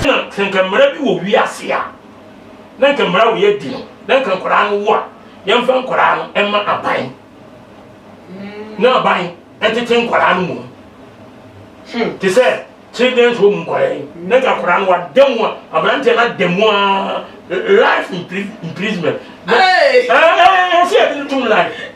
na sɛ nka mmara bi wɔ wiase a na nka mmara wɔ yɛadi no na nka nkwadaa no wo a yɛmfa nkwadaa no ɛma aban na aban ɛtete nkwadaa no mu hmm. te sɛ children's home nkwadaa yi na nka nkwadaa no wada mu a aberanteɛ no ada mu a life imprisonment ɛɛ ɛɛ ɛsɛ yɛde no tum life.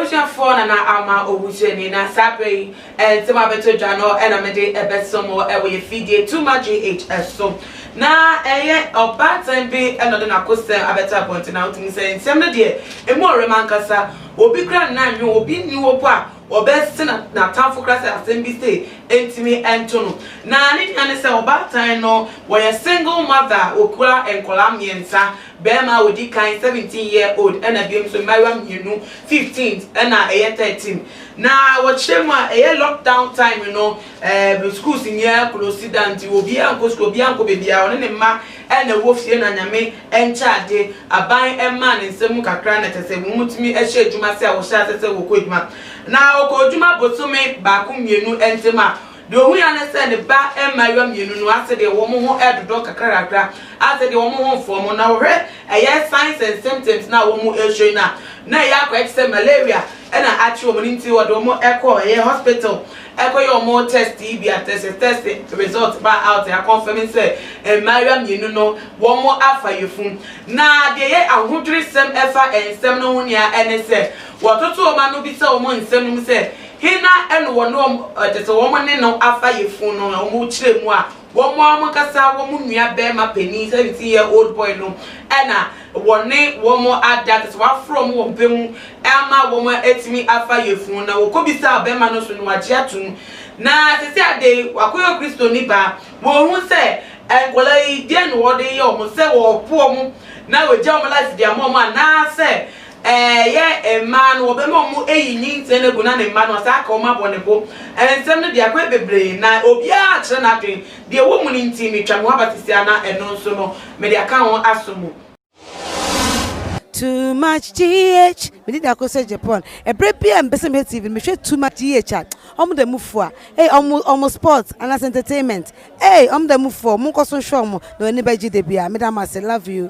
abusuafoɔ na na ama owu so ani na saa berɛ yi nsɛm a bɛtɔ dwa no ɛna mede ɛbɛsɛm ɛwɔ yɛ fidie tuma gh ɛso na ɛyɛ ɔbaatan bi ɛna ɔde n'akosɛm abɛtɔ abɔnten na wotumi sɛ nsɛm no deɛ ɛmu ɔwerɛm ankasa obi kora nna nwe obi nni hɔ po a Ɔbɛse n'atamfo koraa sɛ asɛm bi sei ntumi nto no. Na ne nea ne sɛ ɔbaatan no, wɔyɛ single mother a ɔkura nkwadaa mmiɛnsa, barima a ɔdi kan, seventeen year old, ɛna biom nso mmaayewa mmienu, fifteen ɛna ɛyɛ thirteen. Na wɔkyerɛ mu a, ɛyɛ lock down time no, ɛɛ schools nyinaa close down nti obiara nkɔ sukuu, obiara nkɔ baabiara, ɔne ne mma Ɛna ɛwɔ fie na Nyame nkyɛ ade, aban mmaa ne nsɛm mu kakra na kyɛ sɛ wɔn tumi hyɛ adwuma sɛ a wɔhyɛ asɛ sɛ wɔkɔ adwuma. Na ɔkɔ adwuma bosome baako mmienu ntem a, deɛ ɔhu ara ne sɛ ne ba mmaayewa mmienu no asɛ deɛ wɔn ho redodɔ kakrakakra, asɛ deɛ wɔn ho mfɔɔ mo. Na wɔhwɛ ɛyɛ signs and symptoms no a wɔn ɛrehwɛ yi no a, na ɛyɛ akɔyɛ te sɛ malaria ɛna akye wɔn no nti ɔde wɔn kɔ ɛyɛ hospital. Ɛkɔ yɛ ɔmo tɛst yi bi a tɛsɛ tɛst resɔlt baa aut akɔnfɛm sɛ mmaayewa mmienu no wɔmo afa yefun. Na deɛ ɛyɛ ahodwere sɛm ɛfa nsɛm no ho nea ɛne sɛ wɔtoto wɔmo ano bisa wɔmo nsɛm no mu sɛ hena ɛno wɔne wɔn tɛsɛ wɔmo ne no afa yefun no wɔmo kyerɛ mu a Wɔn ara wɔn ankasa wɔn nua barima panin, 17 year old boy no na wɔne wɔn ada, kyerɛ sɛ wɔaforo wɔn wɔ mpɛ mu ama wɔn atumi afa yafunu. Na wɔkɔbisaa ɔbarima no nso no, wagye atom. Na seesei ada yi, wakɔyɛ Okristoni baa. Wɔhu sɛ nkwadaa yi, deɛn na wɔde reyɛ wɔn, sɛ wɔrepo wɔn na wɔagya wɔn life de ama wɔn anaasɛ Ɛyɛ mmaa no, wɔbɛma wɔn ayi nyinten no agu na ne mma no, wɔasan aka wɔn abɔ ne bo. Nsɛm no de akɔe bebree, na obiara akyerɛ n'adwene. Deɛ ɛwɔ mu no nti, metwa me ho aba sisi ara, na ɛno nso no, mede aka ho aso mu. Too much GH, me di da ko sɛ Japan ɛbrɛ bia me pɛ sɛ me hwɛ TV no me hwɛ too much GH a ɔmo da mu fua ei ɔmo ɔmo sports anaa sɛ entertainment ei ɔmo da mu fua o mo nkɔ so nhwɛ ɔmo na w'ani bɛ gye da bia me da mo ase love you.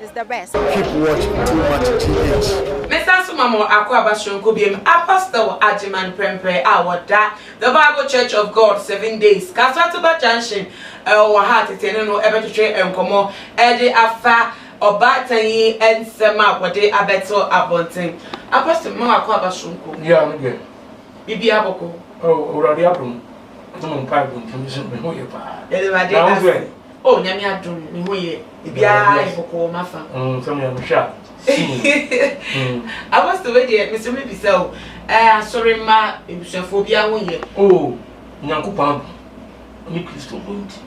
is the best. Keep watch too much GH. Me san so ma mo akwaaba soronko biom a Pastor Agyeman Prempeh a wɔda The Bible Church of God Seven Days Kasateba Junction wɔ ha tete ne no bɛtwetwe nkɔmmɔ de afa ɔbaatan yi nsɛm a wɔde abɛto abɔnten. A Pastor mema wo akwaaba soronko. Yeah, me deɛ. Biribiara bɔkɔ. Oh, Awurade adom. Nti mo mpaebɔ nti me ho yɛ paa. Yɛde Awurade ase. Oh, Nyame adom, me ho yɛ. biara yɛ kɔkɔɔ mafa mm, sɛ meyɛ mehwɛ a hmm. apostle wei deɛ mesɛ mebisa o asɔre ma abusuafoɔ biara ho yɛ o oh, nyankopɔn abo ne kristo ho nti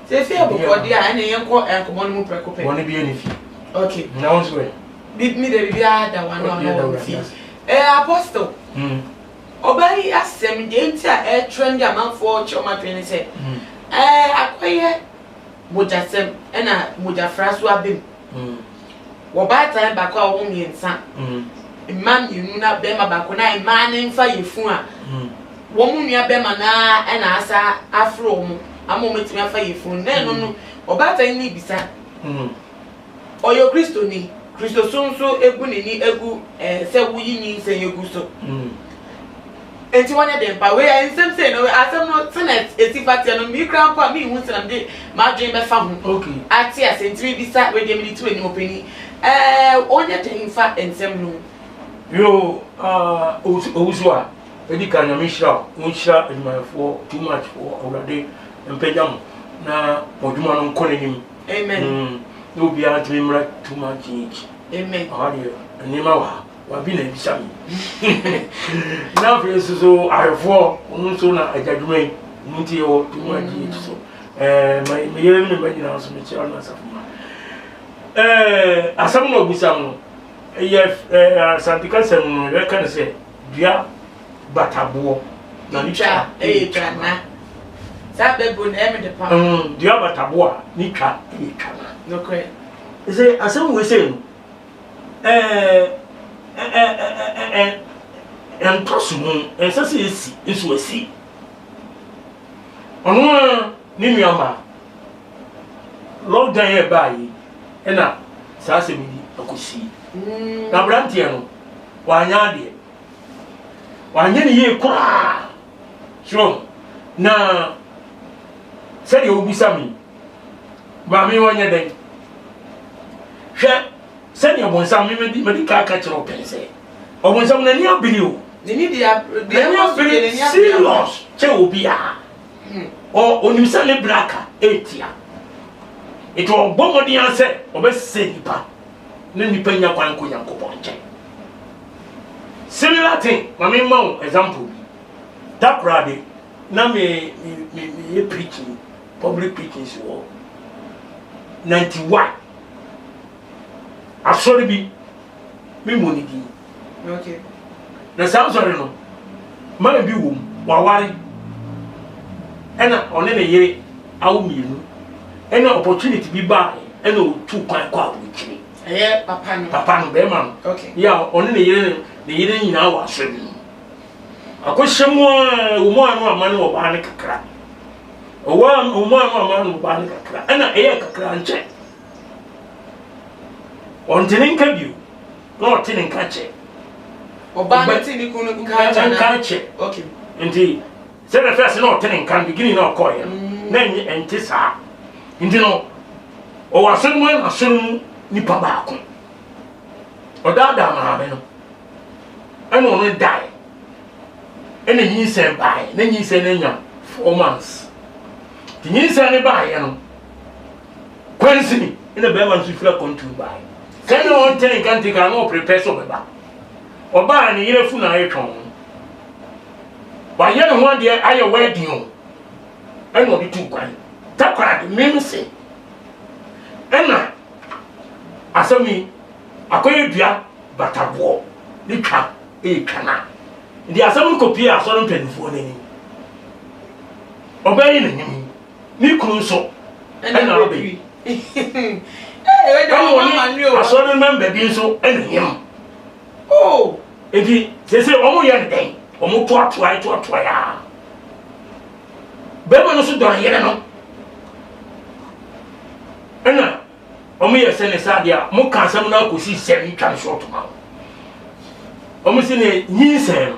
sɛ ɛfie abɔkɔde a ɛne yɛnkɔ nkɔmmɔ no mu prɛko pɛ bɔne biara ne fie okay na wo nso ɛ me da biribiara da wa na ɔno wɔ fie apostle hmm. ɔbaa yi asɛm deɛ nti a ɛtrɛ ndi amanfoɔ kyerɛ ɔmadwene ne sɛ hmm. akɔyɛ mogyasɛm na mogyafra so aba mu. Wɔ baatan baako a wɔwɔ mmiɛnsa, mmaa mmienu na barima baako na mmaa no mfa yɛ funu a, wɔn nua barima no ara na asa aforo wɔn ama wɔatumi afa yɛ funu. Na ɛno no, ɔbaatan no bisa, Ɔyɛ Okristoni. Kristosom nso bu n'ani gu eh, sɛ woyi nyinsɛn gu so. Mm. Enti wɔnyɛ dɛn pa. Wei ayɛ nsɛm sei no, asɛm no sɛnea ɛsi fa teɛ no, me kura mpo a menhu sɛnea mede m'adwene bɛfa ho okay. ate ase. Nti mebisa, wei deɛ mede to anim ɔpani, eh, wɔnyɛ dɛn fa nsɛm no mu? Yo, ah, owusu a, ɛdi kan nyame nhyira wo, wonhyira adwumayɛfoɔ too much wɔ Awurade mpagya mo na mo adwuma no nkɔ n'anim. Amen. Mm, na obiara ntumi mmra too much age. Amen. Ɔha deɛ nneɛma wɔ ha wabi na ebisa mi. Na afei nso so arefoɔ ɔno nso na agya dwuma yi ɔno nti yɛwɔ too much mm. age so. Ɛɛ ma me yere ne me mma nyinaa nso mekyerɛ no asafo ma. Ɛɛ asɛm na ɔbisa no yɛ ɛɛ asante kasɛm no yɛka no sɛ. dua bataboɔ na ne twa yɛ twana. Saa bɛbu na ɛyɛ me de pam. Dua bataboɔ a ne twa yɛ twana. Nokorɛ. Ɛsɛ asɛm wei sɛ no ɛntɔ so mu ɛnsɛ sɛ ɛsi nso ɛsi. Ɔno a ne nua maa lockdown yɛ baa yi ɛna saa asɛm yi akɔsi. Na aberanteɛ no. Wanyɛ adeɛ. Wanyɛ no yie koraa. So na sɛdeɛ wobisa me yi, maame wɔnyɛ dɛn? Hwɛ sɛdeɛ bonsam me madi madi kaa ka kyerɛ wo pɛn sɛ ɔbonsam n'ani abiri o. N'ani deɛ deɛ ɛkɔ so deɛ n'ani abiri serious kyɛ obiara. Hmm. Ɔ onim sɛ ne braka etia. Eti ɔbɔ mmɔden ara sɛ ɔbɛsɛ nipa. na nnipa nnya kwan nkɔ Nyankopɔn nkyɛn. Similar thing, ma me mma wo example bi. Da koraa de, na me, me, me, me yɛ preaching, public preaching si wɔ 91. Asɔre bi, me mmɔ ne din. Na saa nsɔre no, man bi wom, waware, ɛna ɔne ne yere awo mmienu, ɛna opportunity bi baae, ɛna otu kwan kɔ aburokyire. Ɛyɛ papa no. Papa no, bɛrima no. Okay. Yɛ a ɔne ne yere ne yere nyinaa wɔ asɔre bi mu. Akɔhyɛ mu a, wɔn mu ano ama ne ɔbaa no kakra. Ɔwɔ a, wɔn mu ano ama ne ɔbaa no kakra. Ɛna ɛyɛ kakra nkyɛn. Ɔnte ne nka bio, na ɔte ne nka kyɛ. Ɔbaa no te ne kunu nka kyɛ. Nka kyɛ. Okay. Nti sɛ na fɛs na ɔte ne nka beginning na ɔkɔɔ yɛ mm. na ɛnyɛ ɛnte saa. Nti no ɔwɔ asɔre mu na asɔre mu nipa baako. Ɔdaadaa maame no ɛna ɔno dae ɛna nyinsɛn bae na nyinsɛn no anya four months. Nti nyinsɛn no baeɛ no Kwansini na bɛrima no nso firi akwantuo baeɛ. Sɛ na ɔnte ne nkante koraa na ɔprepare sɛ ɔbɛba. Ɔbaa ne yere afu na ayɛ twɔn. Wayɛ ne ho adeɛ ayɛ wɛɛdin o. Ɛna ɔde tu kwan. Takoradi mem se. Ɛna asɛm yi akɔyɛ dua bataboɔ ne twa ɛyɛ twa na. Nti asɛm no kɔpie asɔre mpanimfoɔ no anim. Ɔbɛyɛ n'anim. Ne kunu nso ɛna ɔbɛ yi. Ɛwɔ ne asɔre mɛmba bi nso ɛna yam. Oh! Eti sese wɔn yɛ ne dɛn? Wɔn toatoa toatoa ya. Bɛrima no nso dɔ ne yere no. Ɛna wɔn yɛ sɛ ne sɛ adeɛ a wɔn ka asɛm no akɔsi sɛ ne twa ne short ma wɔn. Wɔn si ne nyinsɛn no.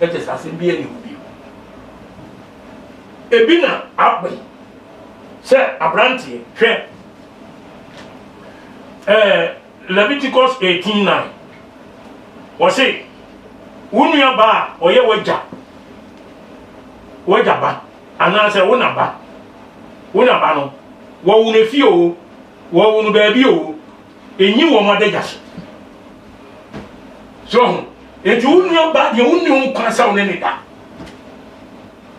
Kyerɛ sɛ asɛm biara nni hɔ bio. Ebi na aba yi sɛ aberanteɛ, hwɛ ɛɛ Leviticus eighteen nine, wɔse wo nua ba a ɔyɛ w'agya w'agya ba anaasɛ wo na ba wo na ba no wɔwo no fie o wɔwo no baabi o Enyi wɔn adagya so. So ho. Enti wo nua baa deɛ wonni ho kwan sɛ wo ne ne da.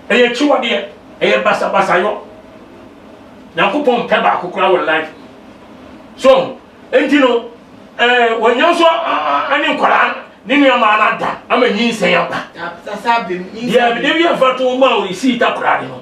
Ɛyɛ akyiwadeɛ. Ɛyɛ basabasayɔ. Nyankopɔn mpɛ baako koraa wɔ life. So ho. Enti no, ɛɛ eh, wɔnya nso ne nkwadaa ne nneɛma no ada ama nyinsɛn aba. Deɛ ebi yɛ mfa to ma o, esi ita koraa de no.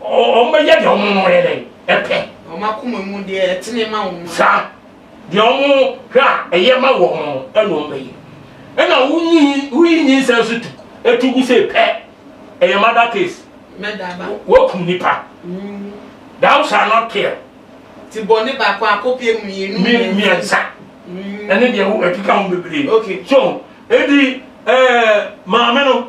wɔbɛyɛ deɛ wɔn yɛ dɛ ɛpɛ. wɔn akoma mu deɛ ɛtene ma wɔn. saa deɛ wɔn hwɛ a ɛyɛ ma wɔn no ɛna wɔn bɛyɛ ɛna wonyi woyi nyinsɛn so tu etu gu sɛ pɛ ɛyɛ mada case wɔkum nipa mm. thou shall not kill. ti bɔ ne baako akɔpie mmienu mmiɛnsa mm. ɛne deɛ ɛkeka ho bebree so edi ɛɛ maame no.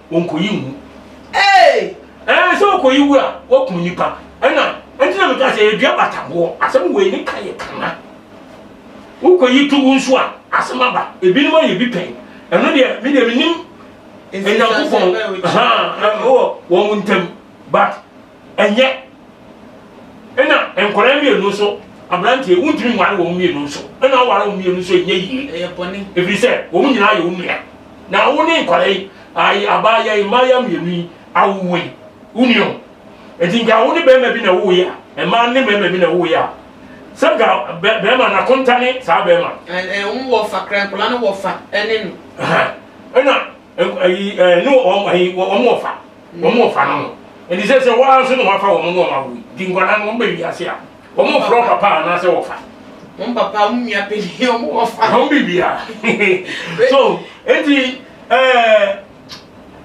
wɔnkɔyi nwu ee ɛɛ sɛ wɔkɔyi wu a wɔkum nipa ɛna ɛnti na meka sɛ yɛdua bataboɔ asɛm wei ne ka yɛ kana wokɔyi to wo nso a asɛm aba ebinom ayɛ bi pɛn ɛno deɛ me deɛ menim nyankopɔn wɔn ntam but Ɛnyɛ. Ɛna nkwadaa mmienu nso, aberanteɛ wontumi nware wɔn mmienu nso. Ɛna aware wɔn mmienu nso ɛnyɛ yie. Ɛyɛ bɔne. Ɛfiri sɛ wɔn nyinaa yɛ wo nua. Na wo ne nkwadaa yi, ayi abaayewa yi, mmaayewa mmienu yi awowo yi, wo nua o. Ɛti nka wo ne bɛrima bi na wowo yi a, mmaa ne mmarima bi na wowo yi a, sɛ nka bɛrima na konta ne saa bɛrima. Ɛɛ, ɛɛ, wɔn wɔ fa, kra nkwadaa no wɔ fa ɛne no. Ɛna. Nk ayi ɛɛ ne wɔn ayi wɔn wɔ fa wɔn wɔ fa no no ɛdi sɛ sɛ wɔn nso na wɔafa wɔn na wɔn awo yi di nkwadaa no wɔn bɛ wiase a wɔn wɔ frɔ papa anaasɛ wɔ fa. Wɔn papa wɔn nua panyin wɔn wɔ fa. Wɔn bibia so eti ɛɛ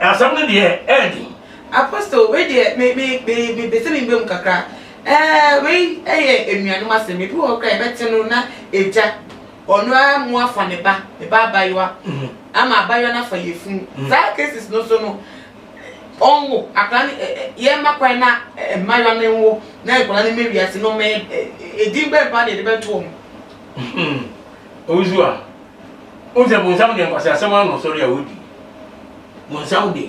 asɛm no deɛ ɛɛdi. Apostle wei deɛ me me me me bɛ sɛ mi bɛ mu kakra ɛɛ wei ɛyɛ enuanom asɛm ebi wɔ hɔ kora yɛbɛte no na egya Ɔno ara mu afa ne ba, ne ba abayewa, ama abayewa no afa yefunu. Saa cases no so no, ɔnwo akwadaa no, ɛ ɛ yɛmma kwan na mmayewa no nwo na nkwadaa no mmɛ wiase no mmɛyɛ ɛ edin bɛn paa na yɛde bɛto wɔn. Owusu a, wohu sɛ bonsam deɛ nkwaseasɛm ara na ɔsɔre a ɔdi. Bonsam deɛ,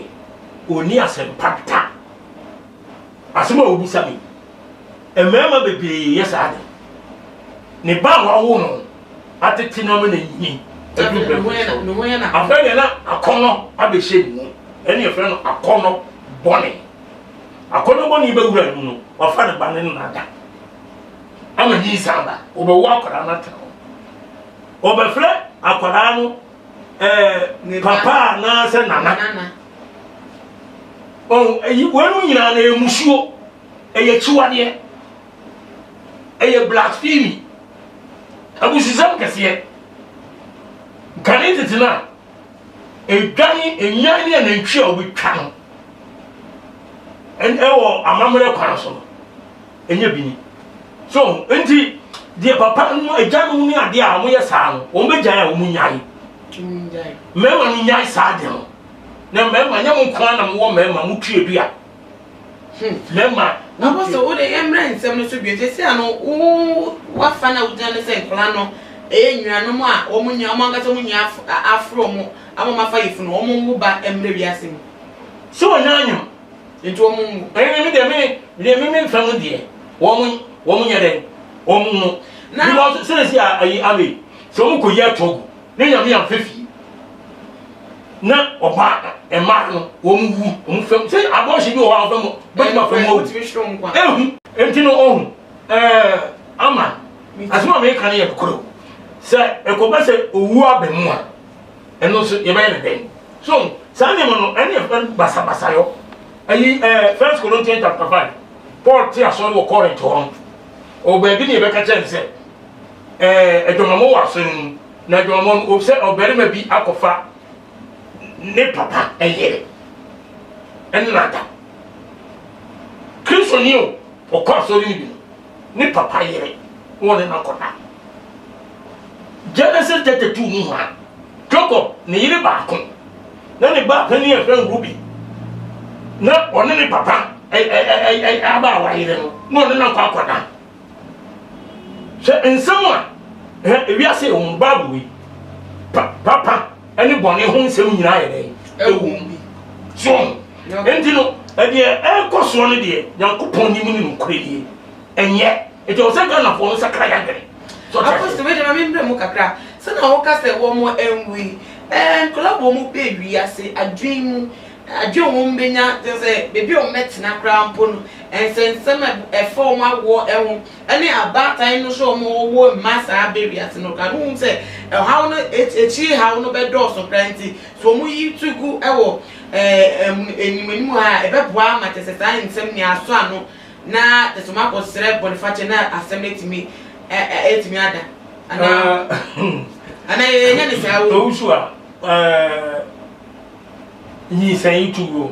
ɔnni asɛmpa da. Asɛm a wobisa me yi, mmarima bebree yɛ saa de. Ne ba a wawo no atete no ama n'ani adu mprɛnko so. Afei deɛ na akɔnnɔ abɛhyɛ ne mu. Ɛne yɛfrɛ no akɔnnɔ bɔne. Akɔnnɔ bɔne bɛwura ne mu no, wafa ne ba no ne no ada. Ama nyinsɛn aba. Wɔbɛwo akwadaa no atena hɔ. Wɔbɛfrɛ akwadaa no ɛɛ papa anaasɛ nana ɔn eyi wɔn mu nyinaa na ɛyɛ musuo ɛyɛ kyiwadeɛ ɛyɛ blasphemy abusisɛm kɛseɛ nkane tete no a ɛdwane nnwan ne anantwi a wɔbɛtwa no ɛwɔ amammerɛ kwan so no ɛnyɛ bi ni so nti deɛ papa no agya no ne adeɛ a wɔyɛ saa no wɔn bɛgyae a wɔn nyae mmarima no nyae saa adeɛ no na mmarima nyɛ mo nko ara na mowɔ mmarima mo tue dua hmm. mmarima abɔsɛ wo de mmerɛ nsɛm no so bio sɛ sɛ no wo wafa no a wogyina no sɛ nkora no ɛyɛ nnuanom a wɔn nyɛ wɔn ankasa wɔn nyɛ aforo wɔn ama wɔn afa yɛ funu wɔn wo ba mmerɛ wiase mu. sɛ wɔn nyɛ anyam. Nti wɔn nwu. Ɛne me deɛ me deɛ me me nfɛm deɛ wɔn wɔn nyɛ dɛ wɔn nwu. Because sɛnɛsi a ayi abe sɛ wɔn kɔ yi ato agu ne nyame anfɛ fie na ɔba mmaa no wɔn wu wɔn fɛm sɛ abɔɔhyɛ bi wɔ hɔ a wɔfɛm bɛtuma eh, fɛm wɔn eh, ehu nti no ɔhu ɛɛ eh, ama asoma mi kan yɛ koro sɛ ɛkɔba sɛ owu abɛn mu a. Ɛno nso yɛbɛyɛ no dɛn? So saa nneɛma no ɛne ɛfɛ no basabasayɔ? Ayi ɛɛ eh, First Corinthians chapter five Paul te asɔre wɔ Corinth hɔ no ɔwɔ baabi ne yɛbɛka kyerɛ no sɛ ɛɛ eh, adwamamɔ wɔ asɔre mu na adwamamɔ no ɔsɛ ɔbarima bi akɔfa ne papa ɛyere ɛne nada Kristoni o ɔkɔ asɔre no bi no ne papa yere na ɔne no akɔda. Genesis thirty two mu hɔ a, Jacob ne yere baako na ne ba panin a ɛfrɛ Ruben na ɔne ne papa abaawa yere no na ɔne no akɔ akɔda. Hwɛ nsɛm a ewiase wɔn baabu yi papa. ne bɔne ho nsɛm nyinaa yɛ dɛn ɛwɔ mu bi so nti no ɛdeɛ ɛrekɔ soɔ no deɛ nyankopɔn nim ne nokorɛ nie ɛnyɛ ɛti ɔwɔ sɛ ghanafoɔ no sakra yɛadwene apɔsite wei deɛ memmerɛ mu kakra sɛna woka sɛ wɔ mo ɛnwi nkɔla wɔ mu bɛ wiase adwen mu adwen wɔ mu bɛnya sɛ baabi a wɔbɛtena koraa mpo no ɛnsɛnsɛm ɛfa wɔn awoɔ ɛho ne abaatan no sɛ wɔnwo mma saa bere wiase no koraa no, wohu sɛ ɔhaw no, akyiri haw no bɛdɔɔso koraa nti, sɛ wɔyi to gu wɔ anim anim ha a, ɛbɛboa ama kyerɛ sɛ saa nsɛm nyinaa asɔ ano, na kyerɛ sɛ wɔakɔsrɛ bɔnefakyɛ na asɛm no atumi atumi ada. Anaa, anaa yɛnyɛ ne saa o. Owusu a, nyinsɛn to guo.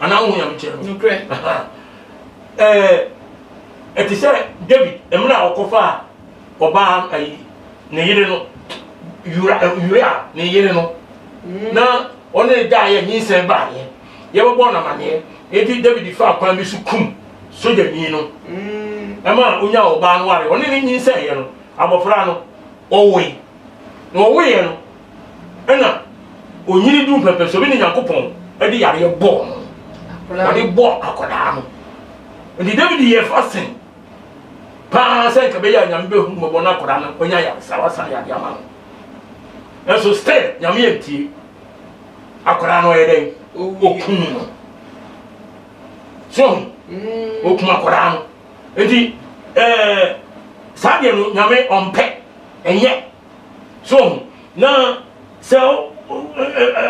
anaa wohu nyamekyeɛ no nokorɛ ɛte sɛ david mmerɛ a ɔkɔfaa ɔbaa ayi ne yere no uria ne yere no mm. na ɔne da yɛ nyinsɛn baayɛ yɛbɛbɔ no amaneɛ enti david faa kwan bi so kum sogyani no mm. ɛma onya ɔbaa no ware ɔne ne nyinsɛn yɛ no abɔfra no ɔwoe na ɔwoeɛ no Ɛna onyini duu pɛpɛ sɛ obi ne Nyankopɔn de yareɛ bɔɔ no. Ɔde bɔɔ akwadaa no. Nti David yɛ fasen paa sɛ nka bɛyɛ a Nyame bɛhu mmɔbɔ no akwadaa no ɔnya yaresa wasan yɛ adeɛ ama no. Nanso still Nyame antie. Akwadaa no ɔyɛ dɛn? Okum no. So mm. okum akwadaa no. Nti ɛɛ eh, saa deɛ no Nyame ɔmpɛ ɛnyɛ So wohu? Na sɛ wo,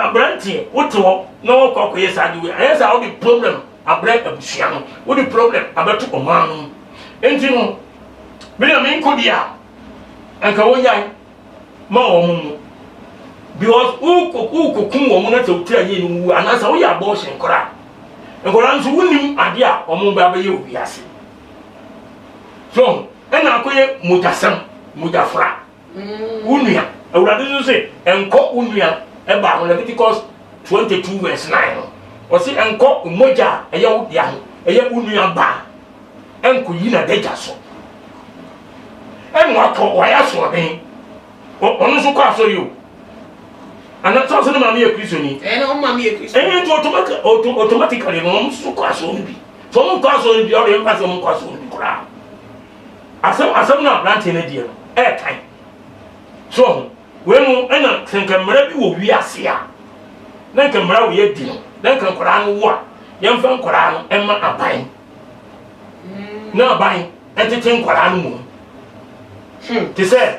aberanteɛ, wote hɔ na wɔkɔ akɔyɛ saa de wei, ayɛ saa wode problem abrɛ abusua no, wode problem abɛto ɔman no mu. Enti no, me na menkɔ di a, anka wonyae ma wɔn mu. Because wokɔkum wɔn na sɛ wotira yie no wu, anaasɛ woyɛ abortion koraa. Nkwadaa nso wonim adeɛ a wɔn bɛ abɛyɛ wɔ wiase. so ɛna akɔyɛ mogyasɛm mogyafra mm. wo nua awurade nso se ɛnkɔ wo nua ɛba ho leviticus 22 verse 9 no ɔse ɛnkɔ mogya a ɛyɛ wo dea ho ɛyɛ wo nua ba ɛnkɔyi na dagya so ɛna wakɔ wayɛ asoɔden ɔno nso kɔ asɔre o ana sọ sọ ne maame yɛ kristoni ɛyɛ nti automatically no wɔn nso kɔ asɔre bi Sɛ wɔn nkɔ asɔre bi, ɔde mpa sɛ wɔn nkɔ asɔre bi koraa. Asɛm asɛm no aberanteɛ no deɛ no ɛɛtan. So ho wei no ɛna sɛ nka mmara bi wɔ wiase a na nka mmara wɔ yɛ di no na nka nkwadaa no wo a yɛmfa nkwadaa no ɛma aban na aban ɛtete nkwadaa no mu hmm. te sɛ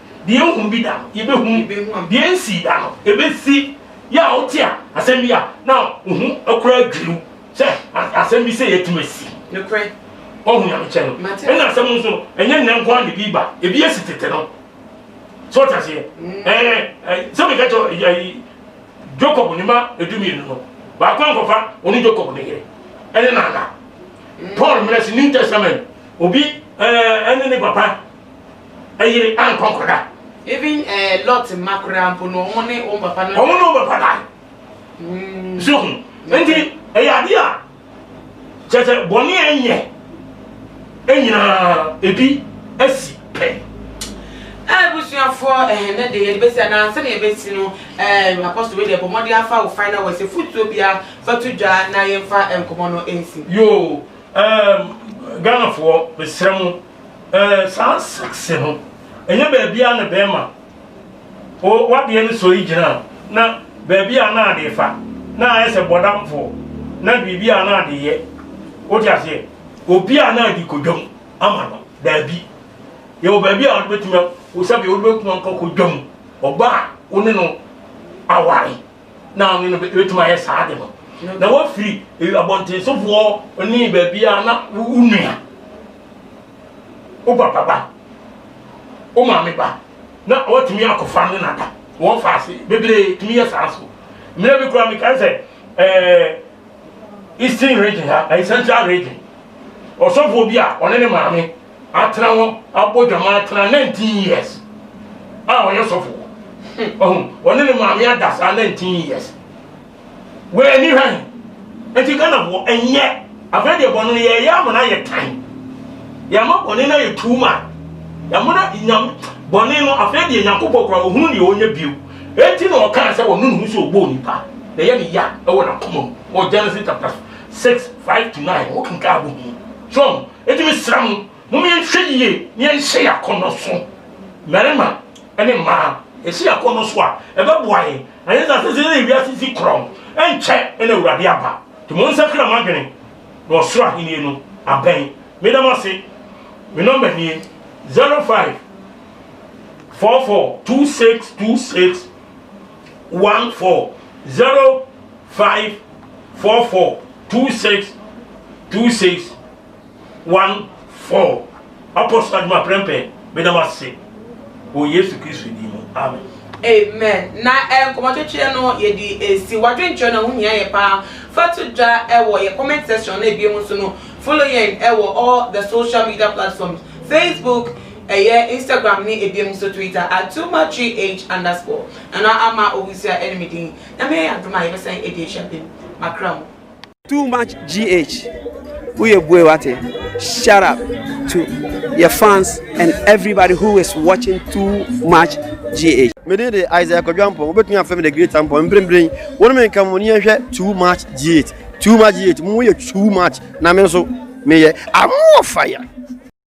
Deɛ yɛnhunu bi da no, yɛbɛhunu, deɛ yɛnsii da no, yɛbɛsi. Yɛ a wote a asɛm bi a na wo ho koraa dwiri wo sɛ asɛm bi sei atumi asi. Nokorɛ. Woahu nyamekyɛ no. Ɛna asɛm no nso no, ɛnyɛ nnɛ nko ara na ebi ba, ebi asi tete no. So wote aseɛ? Ɛɛ, sɛ meka kyerɛ Jacob ne mma edumienu no, baako ankɔfa ɔne Jacob ne yere ɛne nana. Paul mmerɛ se New Testament, obi ɛne ne papa Ɛyere ankɔ akɔda. Even ɛɛ eh, Lot mma koraa mpo no, wɔn ne wɔn papa no. Wɔn ne wɔn papa da. Mm. So ho. Nti ɛyɛ adeɛ a kyerɛ sɛ bɔne a ɛnyɛ ɛnyinaa ebi asi pɛ. abusuafoɔ eh, ɛhɛnɛ de yɛde bɛsi anaa sɛdeɛ yɛbɛsi no eh, apɔsto wei deɛ bɔ mmɔden afa wo final wɔ sɛ fotuo bia fa to dwa na yɛmfa nkɔmmɔ no nsi yoo ghanafoɔ mesrɛ mo eh, saa saxe no ɛnyɛ baabi a na bɛrima o wadeɛ no sɔ yi gyina na baabi a na adeɛ fa na ayɛ sɛ bɔdamfoɔ na biribi a na adeɛ yɛ wote aseɛ obi a na adi kodwam ama no daabi yɛwɔ baabi a wobɛtumi sɛbi wobɛtumi ankɔ kodwam ɔba a wo ne no aware na ɔne no bɛtumi ayɛ saa de no na wafiri eh, abɔntensofoɔ ne baabi a na wo nua wo papa ba, wo maame ba, na ɔatumi akɔfa ne nada wɔn fa ase bebree tumi yɛ saa so mmerɛ bi koraa mekae sɛ ɛɛ eastern region ha ɛyɛ central region ɔsɔfoɔ bi a ɔne ne maame atena hɔ abɔ dwama atena 19 years a ɔyɛ sɔfoɔ ɔne ne maame ada saa 19 years Wɔ ani hwɛ he. Enti Ghana foɔ ɛnyɛ afei deɛ bɔne no yɛyɛ ama no ayɛ tan. Yɛama bɔne no ayɛ too much. Yɛama no nyam bɔne no afei deɛ Nyankopɔn kora ɔhunu deɛ ɔnyɛ bio. Enti na ɔkaa sɛ ɔno ne hu sɛ ɔbɔɔ nipa na ɛyɛ ne ya ɛwɔ n'akoma mu wɔ Genesis chapter 6 5 to 9 wɔ kenkaa bɔ hu. So enti mesrɛ mo mom yɛnhwɛ yie na yɛnhyɛ yɛ akɔnnɔ so. Mmarima ne mmaa yɛhyɛ yɛ akɔnnɔ so a ɛbɛboa yɛn Ɛnyɛ sɛ asase no ne wiase si korɔn, ɛnkyɛ na Awurade aba. Nti monsakra mo adwene, na ɔsoro ahennie no abɛn. Meda mo ase. Me nɔmba nie, 0544262614, 0544262614. one four Ɔkɔ so adwuma prɛmpɛn meda mo ase wɔ Yesu Kristo din mu amen. Amen na eh, nkɔmɔtwetweɛ no yɛde ɛsi wadwenkyerɛ no ɛho hia yɛ paa fa to dwa ɛwɔ yɛ comment section na ɛbie mu nso no follow yɛn ɛwɔ all the social media platforms Facebook ɛyɛ Instagram ne ɛbie mu nso Twitter at Tuma 3H underscore nana ama owusia ɛne me din nyame yɛ yɛ adom a yɛbɛsan ɛde ahyia bem makra mu. Too much GH woyɛ bue wate shut up to your fans and everybody who is watching too much GH. Mede de Isaiah Kodwampong wobɛtumi afɛ me the great ampɔ mprempren wo ne me nka mu ne yɛnhwɛ too much GH too much GH mu yɛ too much na me nso meyɛ I'm more fire.